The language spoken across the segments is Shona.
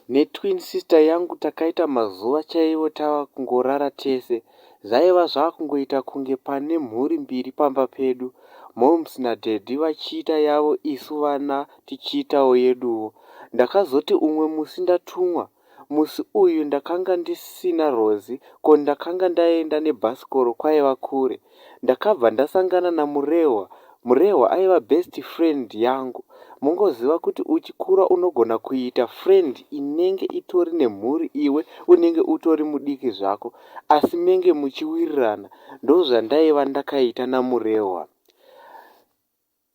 netwin sister yangu takaita mazuva chaivo tava kungorara tese zvaiva zvava kungoita kunge pane mhuri mbiri pamba pedu moms nadaddy vachiita yavo isu vana tichiitawo yeduwo ndakazoti umwe musi ndatumwa Musi uyu ndakanga ndisina Rozi ko ndakanga ndaenda nebhasikoro kwaiva kure. Ndakabva ndasangana naMurehwa, Murehwa aiva best friend yangu. Mongoziva kuti uchikura unogona kuita friend inenge itori nemhuri iwe unenge utori mudiki zvako asi menge muchiwirirana ndozvandaiva ndakaita naMurehwa.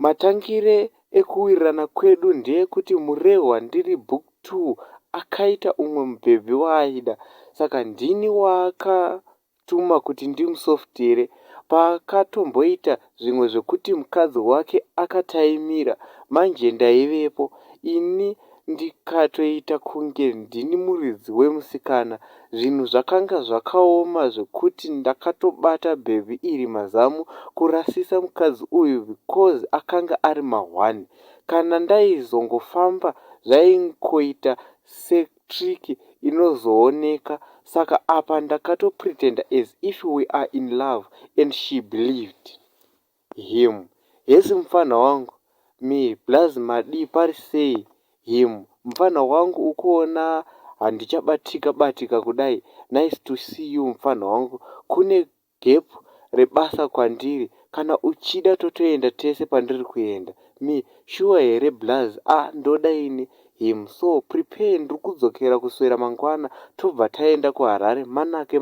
Matangire ekuwirirana kwedu ndeekuti Murehwa ndiri book two akaita umwe mubhebhi waaida saka ndini waakatuma kuti ndimusoftere paakatomboita zvimwe zvekuti mukadzi wake akataimira manje ndaivepo ini ndikatoita kunge ndini muridzi wemusikana zvinhu zvakanga zvakaoma zvekuti ndakatobata bhebhi iri mazamu kurasisa mukadzi uyu because akanga ari mahwani kana ndaizongofamba zvaingoita setrick inozooneka saka apa ndakatopretender as if we are in love and she believed. Him, Hesi mupfanha wangu. Me, Blaz madii pari sei? Him, Mupfanha wangu ukuona handichabatika batika kudai nice to see you mupfanha wangu kune gap rebasa kwandiri kana uchida totoenda tese pandiri kuenda. Me, Shuwa here Blaz? Ah ndoda ini Him, So prepare ndiri kudzokera kuswera mangwana tobva taenda kuHarare manake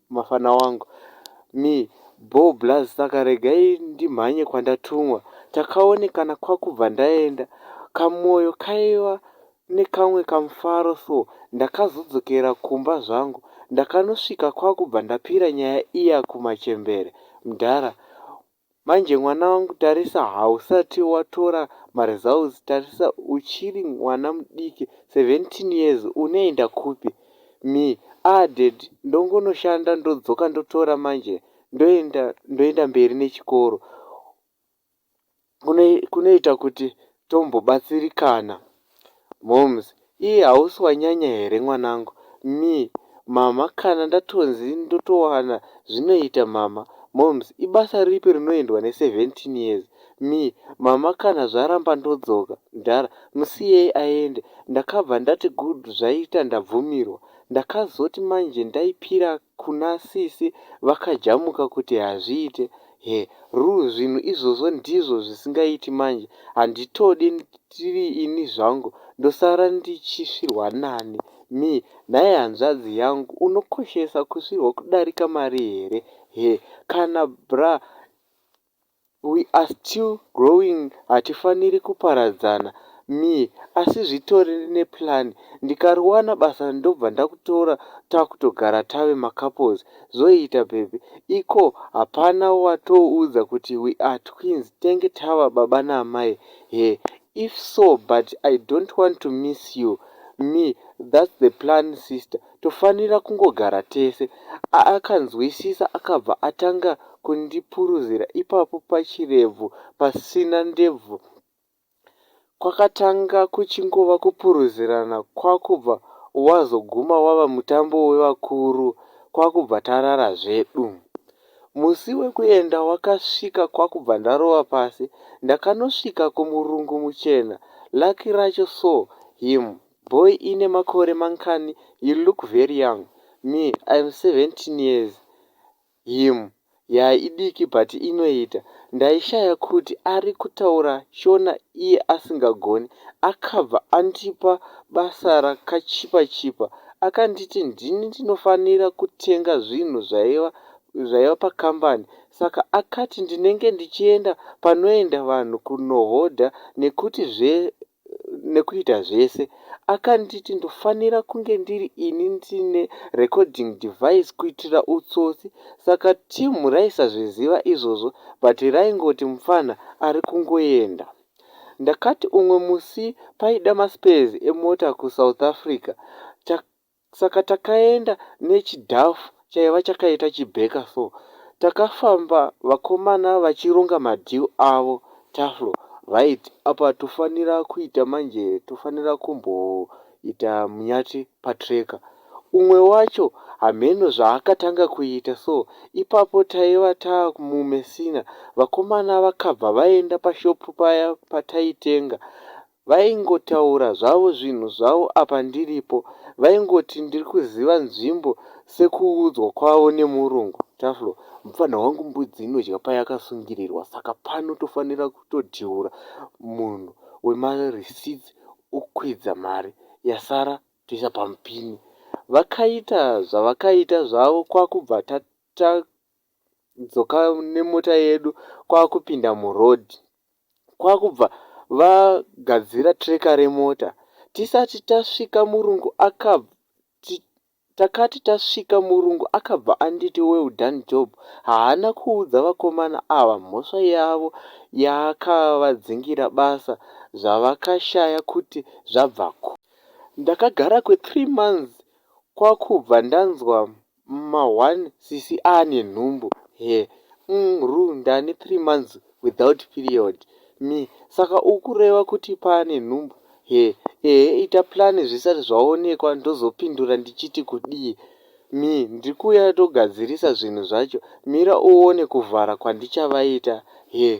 mafana wangu. Me, Bho blaz saka regai ndimhanye kwandatumwa. Takaonekana kwakubva ndaenda. Kamoyo kaiva nekamwe kamufaro so ndakazodzokera kumba zvangu. Ndakanosvika kwakubva ndapira nyaya iya kumachembere. Mdhara, Manje mwana wangu tarisa hausati watora ma results tarisa uchiri mwana mudiki 17 years unoenda kupi Me, aah dad ndongonoshanda ndodzoka ndotora manje ndoenda ndoenda mberi nechikoro kunoita kuti tombobatsirikana. Momz. Iih hausi wanyanya here mwanangu. Me. Mhamha kana ndatonzi ndotowana zvinoita mhamha. Momz. Ibasa ripi rinoendwa ne 17 years. Me. Mhamha kana zvaramba ndodzoka. Mdhara. Musiyei aende. Ndakabva ndati good zvaita ndabvumirwa. Ndakazoti manje ndaipira ka. Kuna sisi vakajamuka kuti hazviite. He, Rue zvinhu izvozvo ndizvo zvisingaiti manje. Handitode ndiri ini zvangu ndosara ndichisvirwa nani. Me, Nhai hanzvadzi yangu unokoshesa kusvirwa kudarika mari here. He, Kana bra. We are still growing hatifaniri kuparadzana. Me, Asi zvitori neplan ndikariwana basa ndobva ndakutora takutogara tave macouples zvoita babe. Iko hapana watoudza kuti we are twins tenge tava baba naamai here? If so but I don't want to miss you. Me, That's the plan sister. tofanira kungogara tese. Akanzwisisa akabva atanga kundipuruzira ipapo pachirebvu pasina ndebvu kwakatanga kuchingova kupuruzirana kwakubva wazoguma wava mutambo wevakuru kwakubva tarara zvedu. Musi wekuenda wakasvika kwakubva ndarova pasi ndakanosvika kumurungu muchena lucky racho saw him Boy ine makore mankani you look very young me I'm 17 years him yaa idiki but inoita ndaishaya kuti ari kutaura shona iye asingagoni akabva andipa basa rakachipa chipa akanditi ndini ndinofanira kutenga zvinhu zvaiva zvaiva pakambani saka akati ndinenge ndichienda panoenda vanhu kunohodha nekuti zve nekuita zvese akanditi ndofanira kunge ndiri ini ndine recording device kuitira utsotsi saka team raisazviziva izvozvo but raingoti mupfanha ari kungoenda ndakati umwe musi paida maspares emota kusouth africa Saka takaenda nechidhafu chaiva chakaita chibheka so. Takafamba vakomana vachironga madeal avo Taflo right apa tofanira kuita manje tofanira kumboita munyati patracker. Umwe wacho hameno zvaakatanga kuita so ipapo taiva tamuMessina vakomana vakabva vaenda pashop paya pataitenga Vaingotaura zvavo zvinhu zvavo apa ndiripo vaingoti ndiri kuziva nzvimbo sekuudzwa kwavo nemurungu. Taflo. Mupfanha wangu mbudzi inodya payakasungirirwa saka pano tofanira kutodhiura munhu wema receipts okwidza mari yasara toisa pamupini. Vakaita zvavakaita zvavo kwakubva tadzoka nemota yedu kwakupinda muroad kwakubva vagadzira tracker remota tisati tasvika murungu akabva takati tasvika murungu akabva anditi well done job haana kuudza vakomana ava mhosva yavo yaakavadzingira basa zvavakashaya kuti zvabva ku ndakagara kwe three months kwakubva ndanzwa ma one sisi aane nhumbu here umm ru ndane three months without period Me, saka ukureva kuti paane nhumbu here ehe ita plan zvisati zvaonekwa ndozopindura ndichiti kudii Me, ndiri kuuya togadzirisa zvinhu zvacho mira uone kuvhara kwandichavaita Her,